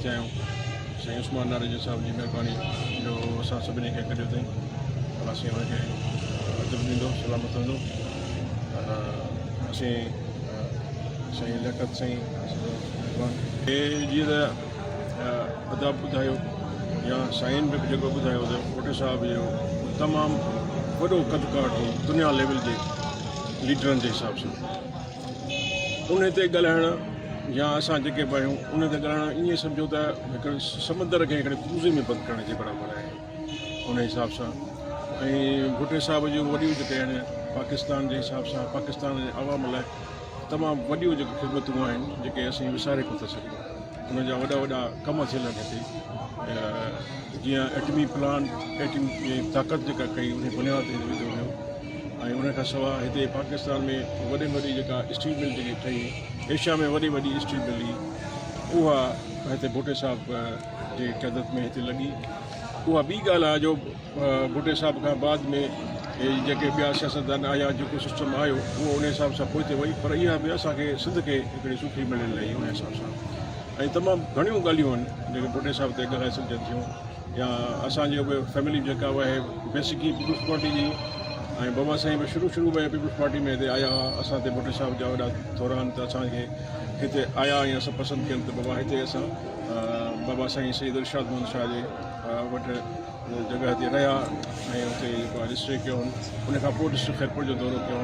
چيائون سائين عثمان ناريجو صاحب جي مهرباني جو اسان سڀني کي گڏيو اٿائين پر اسين هن کي عزت ڏيندو سلامت هوندو پر اسين سائين لياقت سائين کي جيئن ته ادب ٻڌايو يا سائين به جيڪو ٻڌايو ته ڪوٽي صاحب جو تمام وڏو قد ڪاٺ هو دنيا ليول جي ليڊرن جي حساب سان انهي تي ڳالهائڻ يا اسان جيڪي به آهيون انهي تي ڳالهائڻ ائين سمجهو ته هڪڙي سمندر کي هڪڙي ڪوزي ۾ بند ڪرڻ جي برابر آهي انهي حساب سان ۽ ڀٽي صاحب جون وڏيون جيڪي آهن پاڪستان جي حساب سان پاڪستان جي عوام لاء تمام وڏيون جيڪي خدمتون آهن جيڪي اسين وساري ڪونه ٿا سگهون انهن جا وڏا وڏا ڪم ٿيل آهن هتي جيئن ايٽمي پلانٽ ايٽمي طاقت جيڪا ڪئي انهي بنياد تي وڌو ويو ۽ ان کان سواء هتي پاڪستان ۾ وڏي ۾ وڏي جيڪا اسٽيل مل جيڪي ٺهي ايشيا ۾ وڏي وڏي اسٽيل مل هئي اها هتي ڀٽي صاحب جي قيادت ۾ هتي لڳي اها ٻي ڳالهه آهي جو ڀٽي صاحب کان بعد ۾ جيڪي ٻيا سياستدان آيا جيڪو سسٽم آيو اهو ان حساب سان پوئتي وئي پر اها به اسانکي سنڌ کي هڪڙي سٺي مليل رهي ان حساب سان ۽ تمام گهڻيون ڳالهيون آهن جيڪي ڀٽي صاحب تي ڳالهائي سگهجن ٿيون يا اسان جي به فيملي جيڪا به آهي بيسڪ ئي پيپلز پارٽي جي ۽ بابا سائين به شروع شروع ۾ پيپلز پارٽي ۾ هتي آيا هئا اسان تي ڀٽو صاحب جا وڏا ٿوران ته اسان کي هتي آيا ۽ اسان پسند ڪيل ته بابا هتي اسان بابا سائين سيد ارشاد محمد شاهه جي وٽ جڳهه تي رهيا ۽ هتي جيڪو رجسٽر ڪيو هن ان کان پوء ڊسٽرڪٽ خيرپور جو دورو ڪيو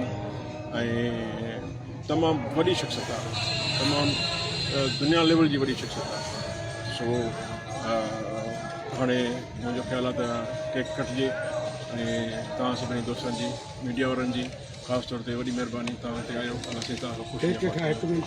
۽ تمام وڏي شخصيت آهي تمام دنيا ليول جي وڏي شخصيت آهي سو هاڻي منهنجو خيال آهي ته ڪيڪ ڪٽجي ۽ توهان سڀني دوستن جي ميڊيا وارن جي خاص طور تي وڏي مهرباني توهان هتي آيو اسين توهان کان خوش